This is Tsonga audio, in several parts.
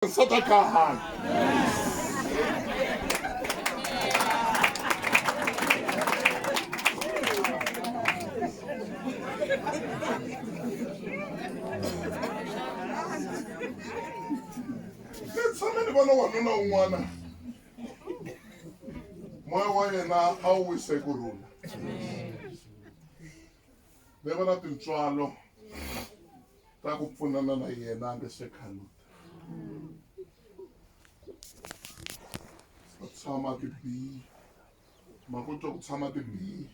sadaqahan tshame ni vona wanuna un'wana moya wa yena a wu wise ku rhula ni vona tintswalo ta ku pfunana na yena a nge se khaluta a tshama ti biyi ma ku twa ku tshama ti biyi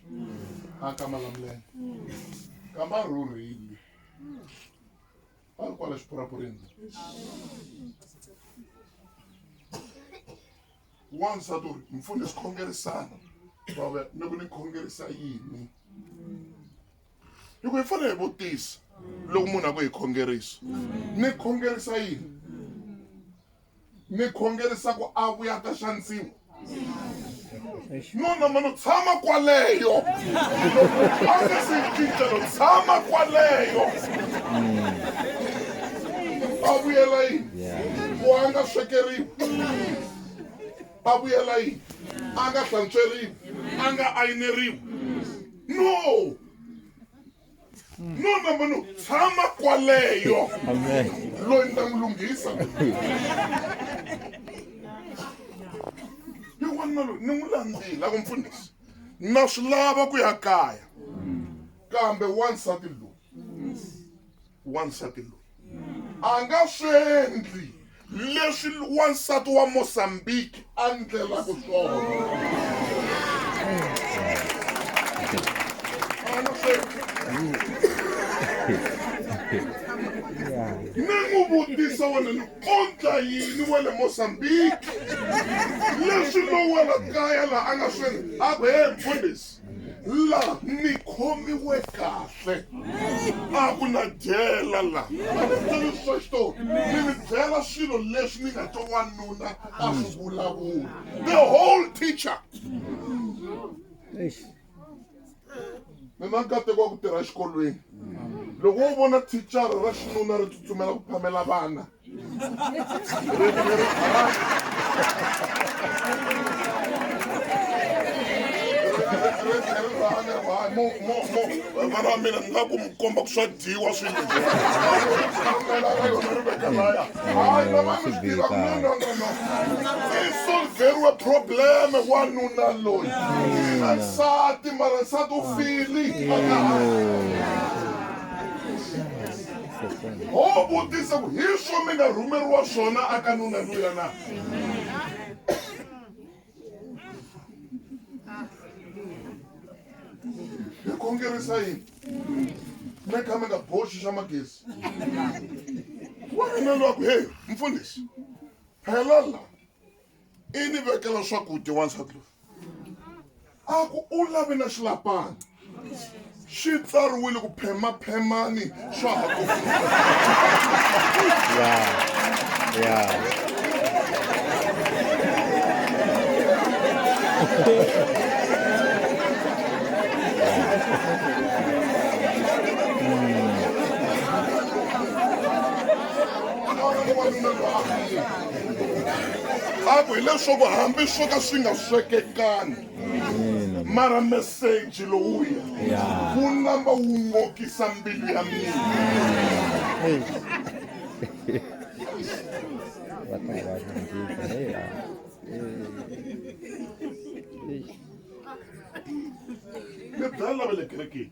a ka malamulele kamba a rhurhile a ri kwala xipurapurini wansati u ri mpfuni swi khongerisana vava ni ku ni khongerisa yini hi ku hi fanele hi vutisa loko munhu a ku hi khongerisa ni khongerisa yini ni khongerisa ku a vuya ta xanisiwa nuna mano tshama kwaleyo a nga se cincelo tshama kwaleyo a vuyela yini ku a nga swekeriwi a vuyela yini a nga hlantsweriwi a nga ayineriwi no no namba no tshama kwaleyo loyi ni ta n'wi lunghisa hi wanuna loyi ni n'wi landzila ku mpfunisa na swi lava ku ya kaya kambe wansati loyi wansati loyi a nga swi endli leswi wansati wa mozambique a ndlelaka swona ni n'wi vutisa wena ni kondla yini wa le mozambique leswi lowela kaya laha a nga swi endla a ku he mfundhisi la ni khomiwe kahle a ku na dyela la a ni byeli swa xitori ni mi byela swilo leswi ni nga to wanuna a swi vulavula the whole teacher ni na nkateko wa ku tirha exikolweni loko wo vona thichara ra xinuna ri tsutsumela ku phamela vana vana va mina ni nga ku mi komba ku swa dyiwa swinsolveriwe probleme wanuna loyi nsati mara nsati u fili Ho vutisa ku hi swo mi nga rhumeriwa swona aka nuna luya na? Hi khongerisa yini? Mi kha mi nga boxi xa magezi. Wanuna luya ku, hey mfundhisi, phela la. i ni vekela swakudya wansati loyi a ku u lavi na xilapana xi tsariwile ku phemaphemani swa ha ku a ku hileswaku hambi swo ka swi nga swekekani mara meseji lowuya wu namba wu ngokisa mbilu ya mina mi byala lava le kerekeni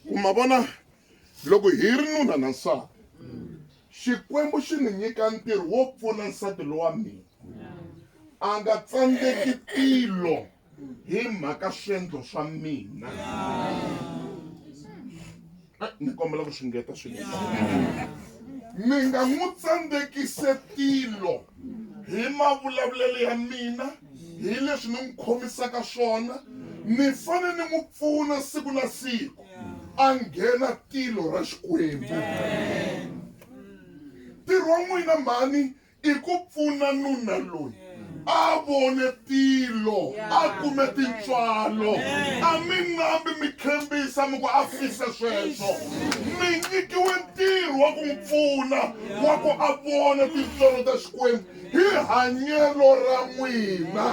ku ma vona Loko hi ri nuna na nsati, Xikwembu xi ni nyika ntirho wo pfuna nsati lowa mina a nga tsandzeki tilo hi mhaka swendlo swa mina. Eh, ni kombela ku xingeta swinene. Mi nga n'wi tsandzekise tilo hi mavulavulelo ya mina. hi leswi ni n'wi khomisaka swona ni fane ni n'wi pfuna siku na siku a nghena tilo ra xikwembu ntirho wa n'wina mhani i ku pfuna nuna loyi a vone tilo a kume tintswalo a mi nambi mi khembisa mi ku a fise sweswo mi nyikiwe ntirho wa ku n'wi pfuna wa ku a vona tintswalo ta xikwembu hi hanyelo ra n'wina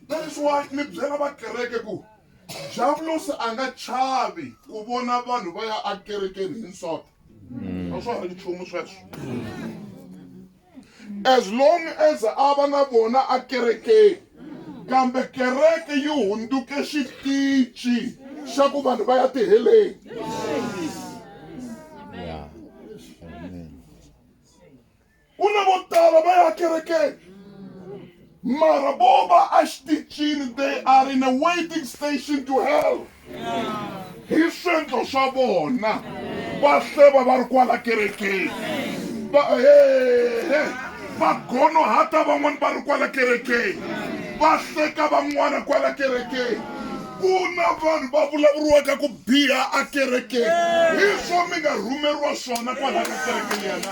that is why ni byela vakereke ku javulosi a nga chavi ku vona vanhu va ya akerekeni hi nsota a swa ha ri nchumu sweswo as long as a va na vona akerekeni kambe kereke yi hunduke xitici xa ku vanhu va ya tiheleni ku na vo tala va ya kerekeni Mara bova a xitichini they are in a waiting station to hell hi swendlo swa vona va hleva va ri kwala kerekeni va hehe va gonohata van'wani va ri kwala kerekeni va hleka van'wana kwala kerekeni ku na vanhu va vulavuriwaka ku biha a kerekeni hi swo mi nga rhumeriwa swona kwalaka kerekeni yana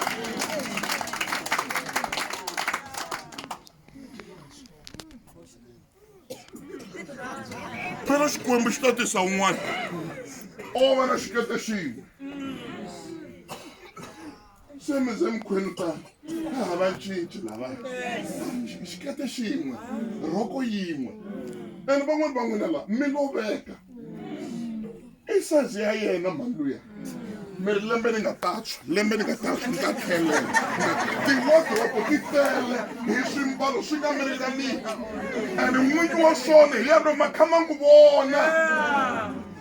phela xikwembu xi ta tisa un'wana o va na xikete xin'we se mi ze mikhwenu tano ka hava cinci lava xikete xin'we rhoko yin'we ene van'wani van'wina laha mi loveka i sazi ya yena mhani luya mi ri lembe ni nga tatshwa lembe ni nga tatshwa ni ta tlhelela tiwodropo ti tele hi swimbalo swi nga mi ringaniki and n'winyi wa swona hi yena ma kha ma n'wi vona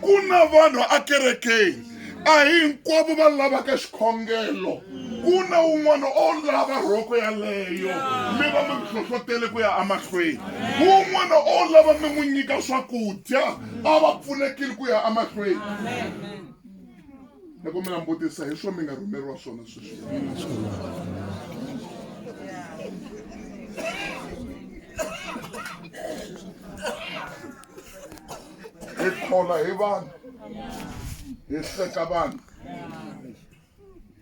ku na vanhu akerekeni a hi hinkwavo va lavaka xikhongelo ku na un'wana o lava rhoko yaleyo mi va mi hlohlotele ku ya emahlweni un'wana o lava mi n'wi nyika swakudya a va pfulekile ku ya emahlweni loko mi langutisa hi swo mi nga rhumeriwa swona sweswi hi khola hi vanhu hi hleka vanhu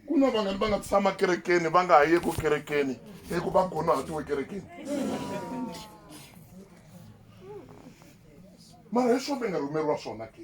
ku na vangani va nga tshama kerekeni va nga ha yeku kerekeni hi ku va gonahatiwe kerekeni mara hi swona nga rhumeriwa swona ke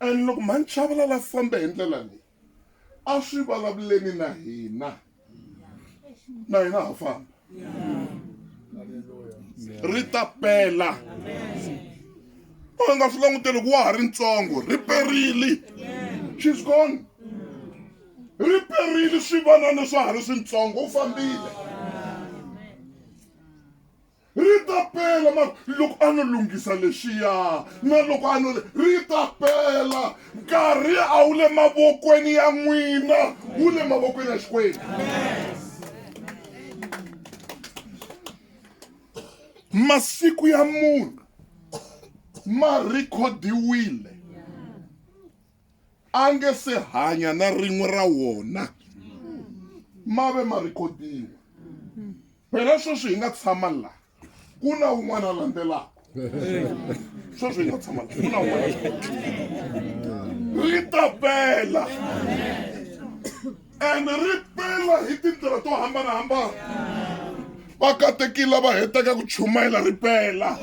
And loko mhani Chavalala a famba hi ndlela leyi a swi vulavuleni na hina na hina ha famba ri ta pela u nga swi languteli ku wa ha ri ntsongo ri perile she's gone ri perile swivanana swa ha ri swintsongo u fambile Ri ta pela, ma ku, loko a no lunghisa lexiya, na loko a no le, ri ta pela. Nkarhi a wu le mavokweni ya n'wina, wu le mavokweni ya Xikwembu. masiku ya munhu ma rhikhodiwile a nge se hanya na rin'we ra wona ma ve ma rhikhodiwa phela sweswi hi nga tshama la ku na un'wana a landzelaka sweswi hi nga tshama la ku na un'wana ri ta pela and ri pela hi tindlela to hambanahambana vakatekila va heteka ku chumayela ri pela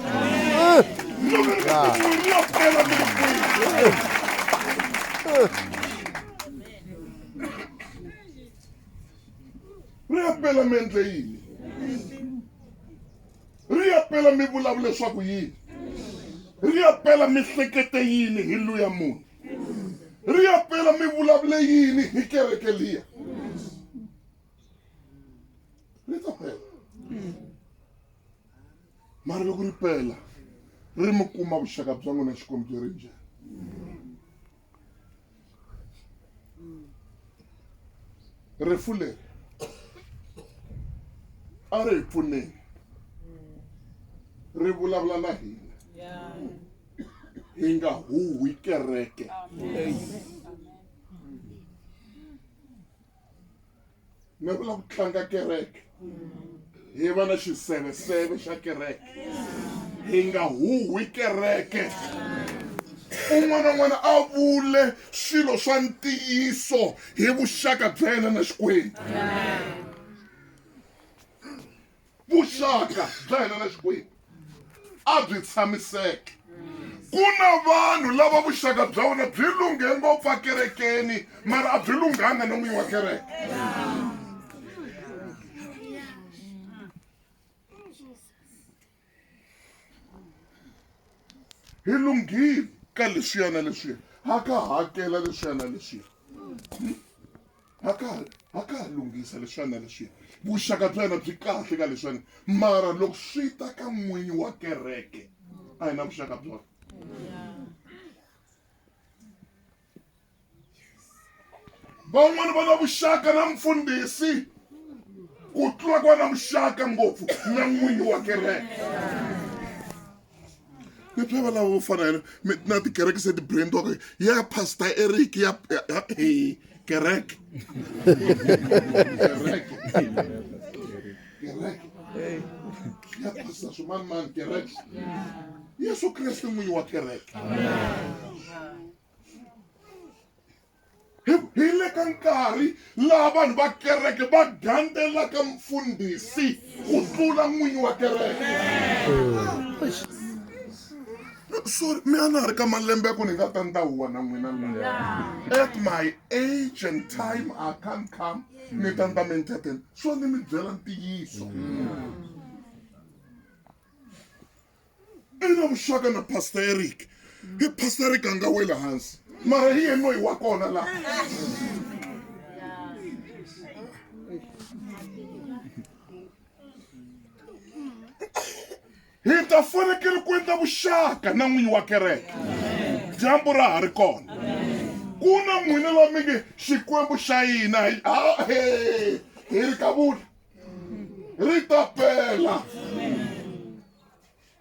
ri ya pela mi endle yini ri ya pela mi vulavula leswaku yini ri ya pela mihlekete yini hi luya munhu ri ya pela mi vulavule yini hi kereke liya ri ta pela mara loko ri pela ri mi kuma vuxaka bya n'wina xikwembu byi ri njhani rifu leri a ri hi pfuneni ri vulavula na hina hi nga huhwi kereke ni vula ku tlanga kereke hi va na xiseveseve xa kereke hi nga huhwi kereke un'wana n'wana a vule swilo swa ntiyiso hi vuxaka bya yena na xikwembu vuxaka bya hina na xikwembu a byi tshamiseke ku na vanhu lava vuxaka bya vona byi lunghe ngopfu ekerekeni mara a byi lunghanga na n'winyi wa kereke hi lunghile ka leswiya na leswiya ha ka hakela leswiya na leswiya ha ka ha ka ha lunghisa leswiya na leswiya vuxaka bya yena byi kahle ka leswiya mara loko swi ta ka n'winyi wa kereke a hi na vuxaka byona van'wana va na vuxaka na mfundhisi ku tlula ku va na vuxaka ngopfu na n'winyi wa kereke leswi va lava vo fana yena mi- na tikereke se ti-brandiwaka ya pastor eric ya ya- ya- eh, kereke kereke kereke ya pastor swimani mani kereke yesu kreste n'winyi wa kereke hi le ka nkarhi laha vanhu va kereke va gandelaka mfundhisi ku tlula n'winyi wa kereke sorry mi a na ha ri ka malembe ya ku ni nga ta ndawuwa na n'wina at my age and time i can't come mi ta ni ta mi entertain swo ni mi byela ntiyiso i na vuxaka na pastor eric hi pastor eric a nga weli hansi mara hi yena noyi wa kona laha Hi ta fanekele ku endla vuxaka na n'winyi wa kereke dyambu ra ha ri kona. Ku na n'wina la mi nge Xikwembu xa hina hi ha he hi ri kavula ri ta pela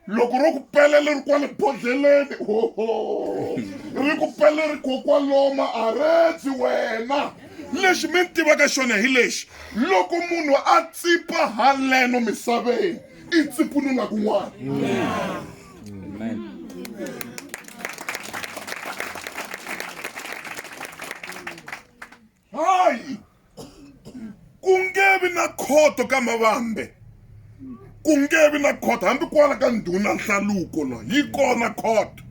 loko ro ku pela leri kwale bodlheleni hoho ri ku pela ri ko kwaloma a redzi wena lexi mi ni tivaka xona hi lexi loko munhu a tsipa haleno misaveni i tsiku ni nga kun'wana hayi ku nge vi na khoto ka mavambe ku nge vi na khoto hambi kwala ka ndhuna nhlaluko la yi kona khoto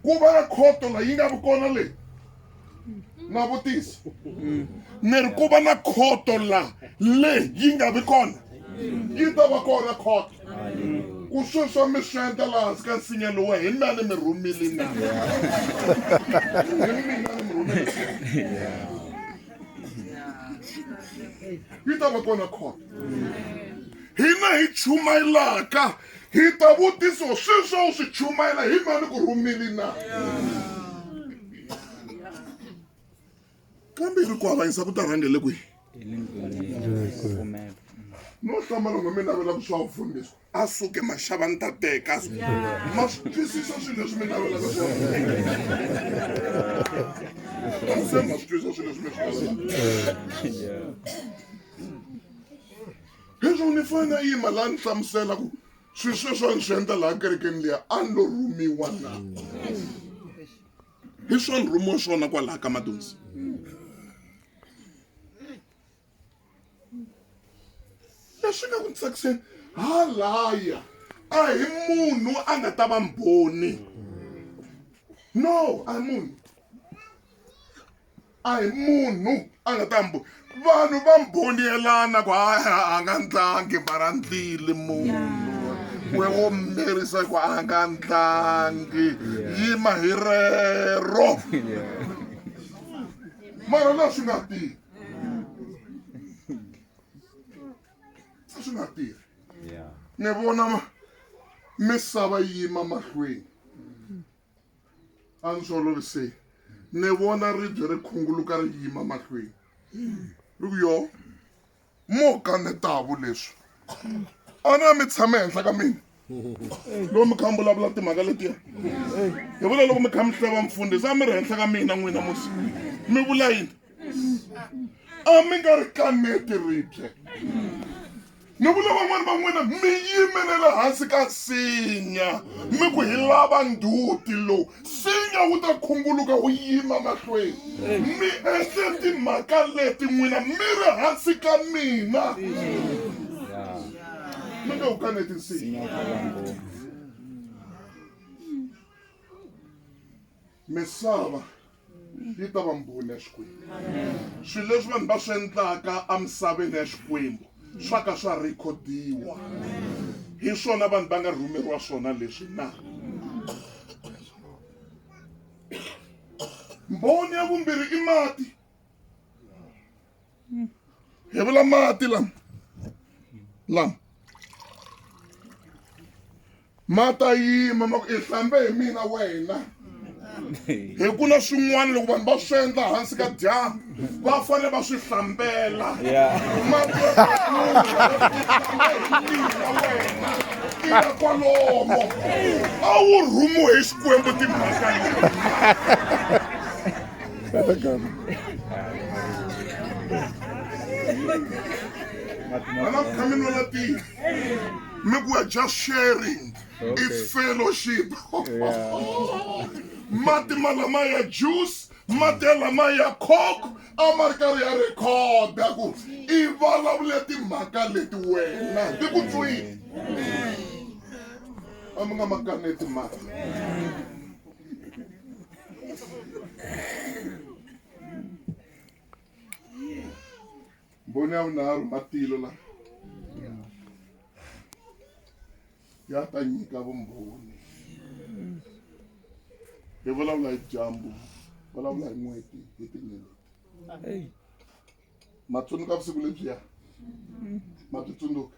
ku va na khoto la yi nga vi kona leyi na vutisa ni ri ku va na khoto laha leyi yi nga vi kona yi ta va kona khoto ku sweswo mi swi endla laha hansi ka nsinya lowu hi mina ni mi rhumile na hi mina ni mi rhumile yi ta va kona khoto hina hi chumayelaka Hi ta vutisiwa swilo swa u swi chumayela hi mani ku rhumile na kambe yi ri ku avanyisa ku ta rhangele kwihi no hlamala n'we mi navela ku swa vufundisi a suke maxava ni ta teka ma swi twisisa swilo leswi mi navelaka swa se ma swi twisisa swilo leswi mi swi navelaka Leswaku ni fanele a yima laha ni hlamusela ku swilo sweswo a ni swi endla laha kerekeni liya a ni lo rhumiwa na hi swa ni rhumiwa swona kwalaha ka madonsi leswi nga ku ni tsakiseni halaya a hi munhu a nga ta va mbhoni no a hi munhu a hi munhu a nga ta mbo vanhu va mboniyelana ku a nga ndlangi mara ndlile munhu we wo mirisa ku a nga ndlangi yima hi rero mara la swi nga tirhi a swi nga tirhi ni vona misava yi yima mahlweni a ndzi swi oloviseni ni vona ribye ri khunguluka ri yima mahlweni ri ku yo mo ka ni tavu leswi a na mi tshame henhla ka mina loko mi kha mi vulavula timhaka letiya hi vula loko mi kha mi hleva mfundhisi a mi ri henhla ka mina n'wina musi mi vula yini a mi nga ri kaneti ribye Ni vula van'wana va n'wina mi yimele le hansi ka nsinya mi ku hi lava nduti lowu nsinya wu ta khunguluka wu yima mahlweni mi endle timhaka leti n'wina mi ri hansi ka mina mi nge wu kaneti nsinya misava yi ta va mbhoni ya xikwembu swilo leswi vanhu va swi endlaka emisaveni ya xikwembu swa ka swa rhikhodiwa hi swona vanhu va nga rhumeriwa swona leswi na mbhoni ya vumbirhi i mati hi vula mati lama lama Ma ta yima ma ku i hlambe hi mina wena. Hi ku na swin'wana loko vanhu va swi endla hansi ka dyambu va fanele va swi hlambela. Mati ya Bebula i hlambe hi mina wena. I ya kwalomo. A wu rhumiwe hi Xikwembu timhaka leti. Ana ku tshameni va matiko. mi ku ya just sharing okay. is fellowship yeah. mati malama ya juice mati ya lama ya coke a ma ri karhi ya rhekhoda ku i vulavule timhaka leti wena ti ku tswini a mi nga ma kaneti mati Mbhoni ya vunharhu matilo la ya ta nyika vumbhoni. Hi vulavula hi dyambu, vulavula hi n'hweti, hi tinyeleti. Ma tsundzuka vusiku lebyiya? Ma byi tsundzuka?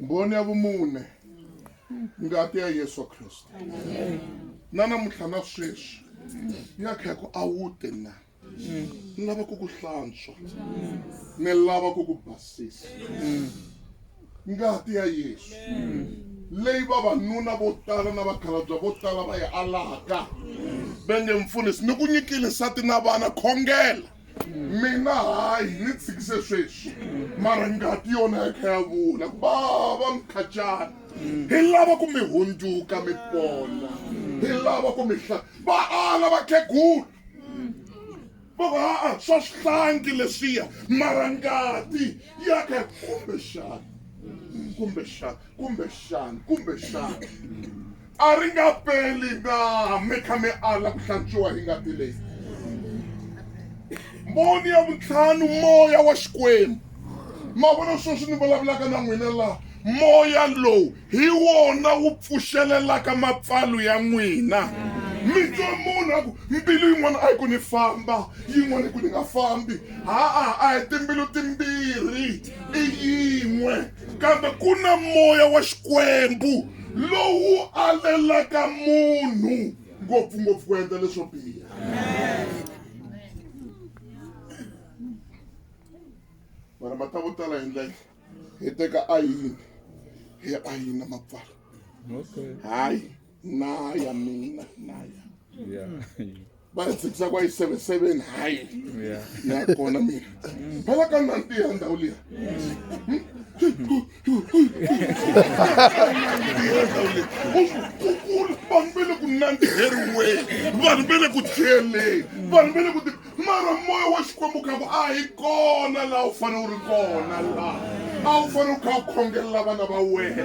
mboni ya vumune ngati ya yesu kristu na namuntlha na sweswi ya kha ku a wu te na ni lava ku ku hlantswa ni lava ku ku basisa ngati ya yesu leyi vavanuna vo tala na vakhalabya vo tala va yi alaka va nge mpfunisi ni ku nyikile nsati na vana khongela mina hayi ni tshikise sweswi mara ngati yona ya kha ya vula ku vava mkhacana hi lava ku mi hundzuka mi pona hi lava ku mi hla va ala vakhegulu va ku aa swa swihlangi leswiya mara ngati ya kha kumbexana kumbexana Kumbexana, kumbexana a ri nga peli na mi kha mi ala ku hlantswiwa hi ngati leyi. Mboni ya vuntlhanu moya wa Xikwembu. Ma vona sweswi ni vulavulaka na n'wina laha moya lowu hi wona wu pfuxelelaka mapfalo ya n'wina mi twa munhu a ku mbilu yin'wana a yi ku ni famba yin'wana yi ku ni nga fambi ha-a a hi timbilu timbirhi i yin'we kambe ku na moya wa xikwembu lowu alelaka munhu ngopfungopfu ku endla leswo biha mara mata vo tala hi ndlela hi teka ayini hi ayina mapfala hayi na ya mina na ya Yeah. va yi tshikisa kwa yi seven seven hayi Yeah. ya kona mina phela ka nanti ya ndhawu liya kukulu vanhu ve le ku nandziheriweni vanhu ve le ku dyeleni vanhu ve le ku ti Mara moya wa Xikwembu kha ku a hi kona laha u fanele u ri kona laha a wu fanele u kha u khongelela vana va wena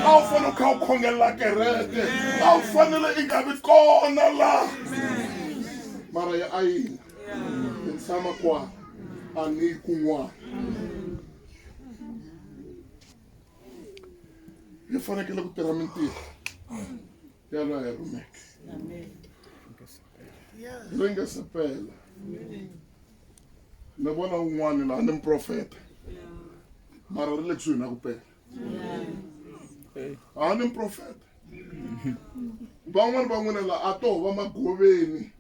a wu fanele u kha u khongelela kereke a wu fanele i nga vi kona la mara ya a yina ni tshama kwana a ni yi kun'wana hi fanekele ku tirha mintirho yàlla ay lu nekk la nga sa pay la na bona un'wana la ni muprofeta mara ri le kusuhi na ku pela a ni muprofeta van'wani van'wina la a to va magoveni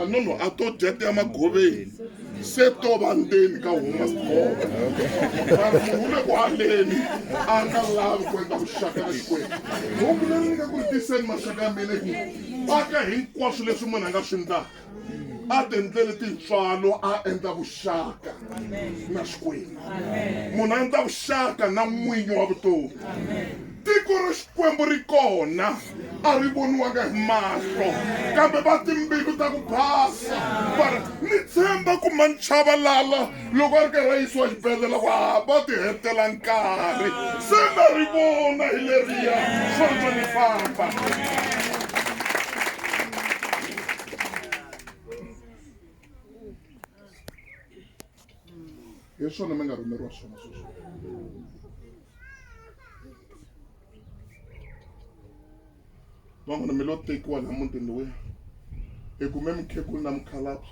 anono a to dya ti ya magoveni se to va ndzeni ka huma sigova vanhu hu le ku haleni a nga lavi ku endla vuxaka na xikwembu hungu leri ni nga ku ri tiseni maxaka ya mina ku paka hinkwaswo leswi munhu a nga swi ndlaka a tiendleli tintswalo a endla vuxaka na xikwembu munhu a endla vuxaka na n'winyi wa vutomi Tiko ra Xikwembu ri kona, a ri voniwanga hi mahlo, kambe va timbilu ta ku basa va ri, Ni tshemba ku manchavalala loko a ri karhi a yisiwa xibedlhela ku hava ti hetela nkarhi. Se na ri vona hi leriya, sweswo ni famba. hi swona mi nga rhumeriwa swona sweswo van'wana mi lo tekiwa laha mutini lowuya hi kume mukhegulu na mukhalabye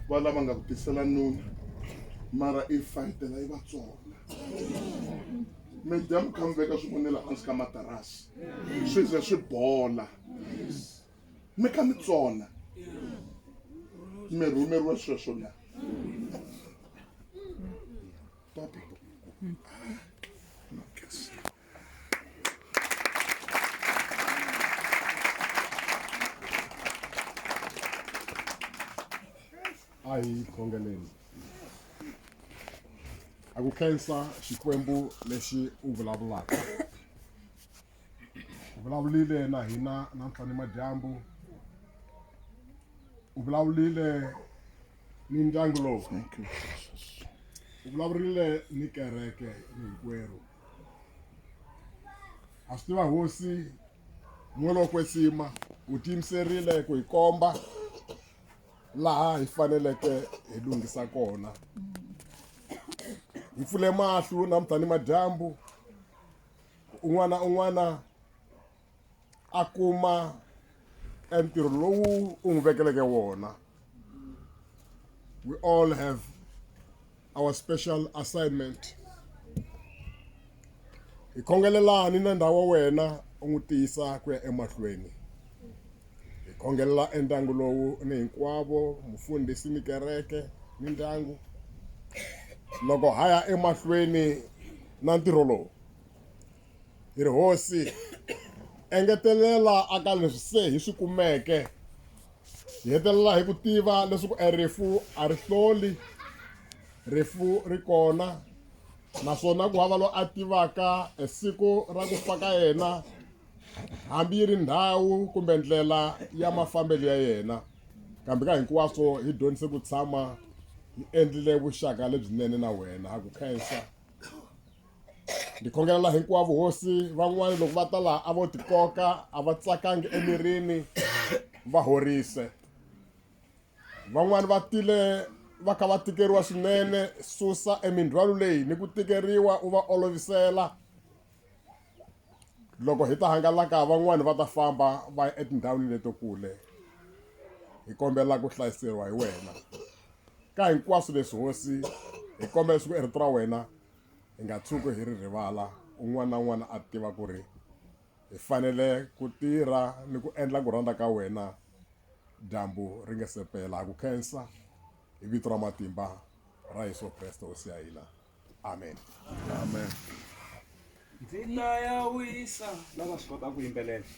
va lava nga ku tisela nuna mara i fayitela yi vatsonga mi dya mi kha mi veka swivonela hansi ka matarasi swi ze swi bola mi kha mi tsona mi rhumeriwe sweswo na papa a hi khongeleni a ku khensa xikwembu lexi u vulavulaka u vulavulile na hina namuntlha ni madyambu u vulavulile ni ndyangu lowu u vulavurile ni kereke ni hinkwerhu a swi tiva hosi n'welo kwetsima u tiyimiserile ku hi komba laha hi faneleke hi lunghisa kona hi pfule mahlo namuntlha ni madyambu un'wana na un'wana a kuma e ntirho lowu u n'wi vekeleke wona we all have our special assignment hi khongelelani na ndhawu wa wena u n'wi tiyisa ku ya emahlweni hi khongelela endyangu lowu ni hinkwavo mufundhisi ni kereke ni ndyangu loko ha ya emahlweni na ntirho lowu Hi ri, Hosi, engetelela aka leswi se hi swi kumeke. Hi hetelela hi ku tiva leswaku e rifu a ri hloli, rifu ri kona naswona ku hava loyi a tivaka e siku ra ku fa ka yena hambi yi ri ndhawu kumbe ndlela ya mafambelo ya yena kambe ka hinkwaswo hi dyondzise ku tshama hi endlile vuxaka lebyinene na wena ha ku khensa ndzi khongelela hinkwavo hosi van'wana loko va ta laha a vo tikoka a va tsakangi emirini va horise van'wana va tile va kha va tikeriwa swinene susa emindzhwalo leyi ni ku tikeriwa u va olovisela loko hi ta hangalaka van'wana va ta famba va ya etindhawini leto kule hi kombela ku hlayiseriwa hi wena ka hinkwaswo leswi hosi hi kombela swi ku erito ra wena hi nga tshuki hi ri rivala un'wana na un'wana a tiva ku ri hi fanele ku tirha ni ku endla ku rhandza ka wena dyambu ri nga se pela ha ku khensa hi vito ra matimba ra yesu kreste hosi ya hina amen amen ndzi ta ya wisa lava swi kota ku yimbelela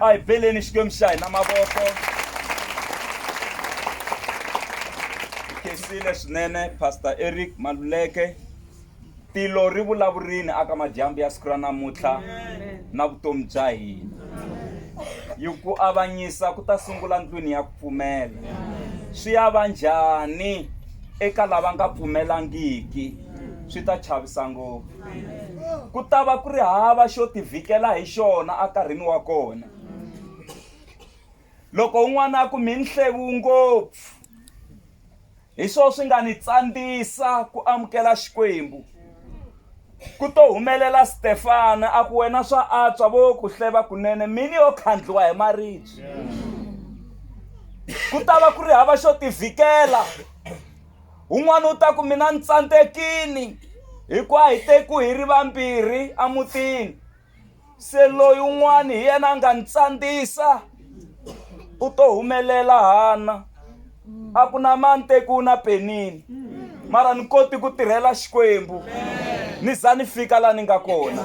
a hi beleni xikwembu xa hina mavoko khensile swinene pastor eric maluleke tilo ri vulavurini aka madyambu ya siku ra namuntlha na vutomi bya hina yi ku avanyisa ku ta sungula ndlwini ya ku pfumela swi ya va njhani eka lava nga pfumelangiki swi ta chavisa ngopfu ku ta va ku ri hava xo tivhikela hi xona enkarhini wa kona loko un'wana a ku mi nhlevu ngopfu hi swona swi nga ni tsandzisa ku amukela xikwembu ku to humelela stefana a ku wena swa antswa vo ku hleva kunene mini yo khandliwa hi maribye ku ta va ku ri hava xo tivhikela un'wana u ta ku mina ni tsandzekini hikuva hi teku hi ri vambirhi emutini se loyi un'wana hi yena a nga ni tsandzisa u to humelela hana a ku na mani teku u na penini mara ni koti ku tirhela xikwembu ni za ni fika laha ni nga kona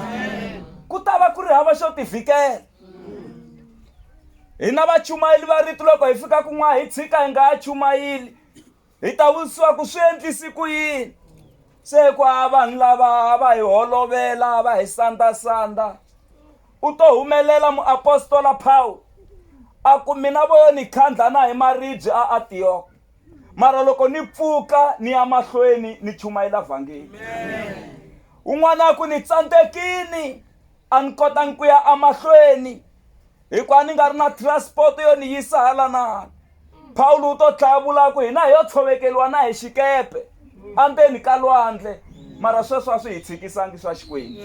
ku ta va ku ri hava xo tivhikela hina vachumayeli va rito loko hi fika kun'wana hi tshika hi nga ha chumayeli hi ta vutisiwa ku swi endlisi ku yini se ku a vanhu lava va hi holovela va hi sandasanda u to humelela muapostola pawu a ku mina vo yo ni khandla na hi maribye a antiyoko mara loko ni pfuka ni ya mahlweni ni chumayela vhangeli un'wana a ku ni tsandzekini a ni kotangi ku ya emahlweni hikuva ni nga ri na transport yo ni yisa hala na hala pawulo u to tlhaya vulaku hina hi yo tshovekeriwa na hi xikepe andzeni ka lwandle mara sweswo a swi hi tshikisangi swa xikwembu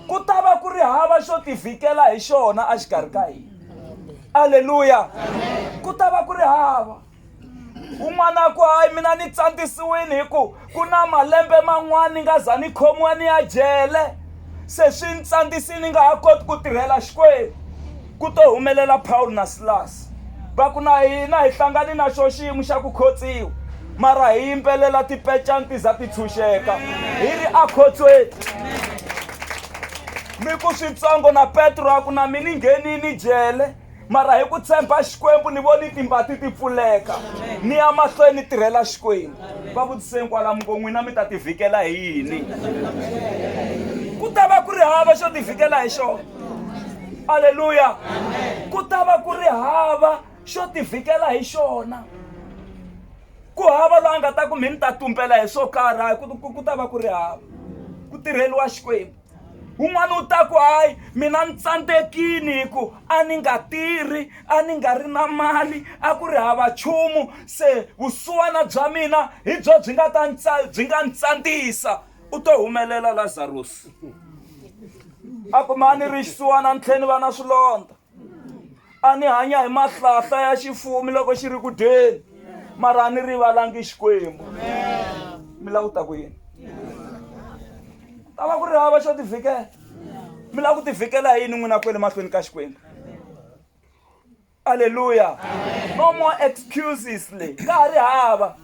ku ta va ku ri hava xo tivhikela hi xona a xikarhi ka hina aleluya ku ta va ku ri hava un'wana ku hayi mina ni tsandzisiwile hi ku ku na malembe man'wana ni nga za ni khomiwa ni ya jele se swi ni tsandzisile ni nga ha koti ku tirhela xikwembu ku to humelela paul na silasi va ku na hina hi hlangane na xo xiyimo xa ku khotsiwa mara hi yimbelela tipecani ti za ti tshunxeka hi ri akhotsweni mi ku switsongo na petro a ku na mi ni nghenini jele mara hi ku tshemba xikwembu ni voni timbati ti pfuleka ni ya mahlweni ni tirhela xikwembu va vutiseni kwala muko n'wina mi ta tivhikela hi yini ku ta va ku ri hava xo tivhikela hi xona aleluya ku ta va ku ri hava xo tivhikela hi xona ku hava loyi a nga ta ku mi ni ta tumbela hi swo karhi ku ta va ku ri hava ku tirheliwa xikwembu un'wana u ta ku hayi mina ni tsandzekini hi ku a ni nga tirhi a ni nga ri na mali a ku ri hava nchumu se vusiwana bya mina hi byo byi nga ta byi nga ni tsandzisa u to humelela lazarusi a ku ma ni ri xisiwana ni tlhela ni va na swilondza a ni hanya hi mahlahla ya xifumi loko xi ri ku dyeni mara a ni rivalangi xikwembu mi lava ku ta ku yini ta va ku ri hava xo tivhikela mi lava ku tivhikela hi yini n'wina kwele mahlweni ka xikwembu alleluya no more excuses le ka ha ri hava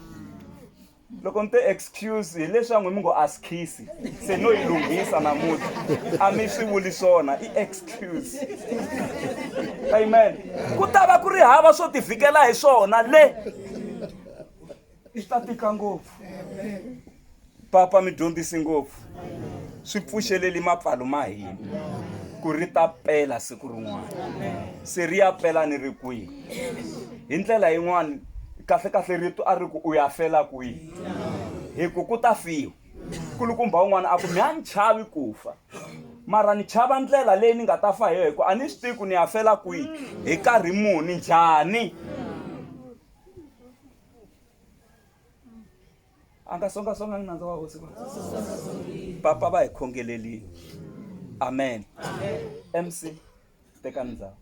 loko ni te excuse hi leswi a n'wi mi ngo a skhisi se no yi lunghisa namuntlha a mi swi vuli swona i excuse amen ku ta va ku ri hava swo tivhikela hi swona le swi ta tika ngopfu papa mi dyondzisi ngopfu swi pfuxeleli mapfalo ma hina ku ri ta pela siku rin'wana se ri ya pela ni ri kwihi hi ndlela yin'wana kahle kahle rito a ri ku u ya fela kwihi hi ku ku ta fiwa kulukumba un'wana a ku mi a ni chavi ku fa mara ni chava ndlela leyi ni nga ta fa hi yo hi ku a ni swi tivi ku ni ya fela kwihi hi karhi muni njhani a nga songasongangi nandza wa hosi va papa va hi khongelelini amen mc teka ndhawu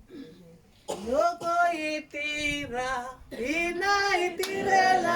loko yi tirha hina hi tirhela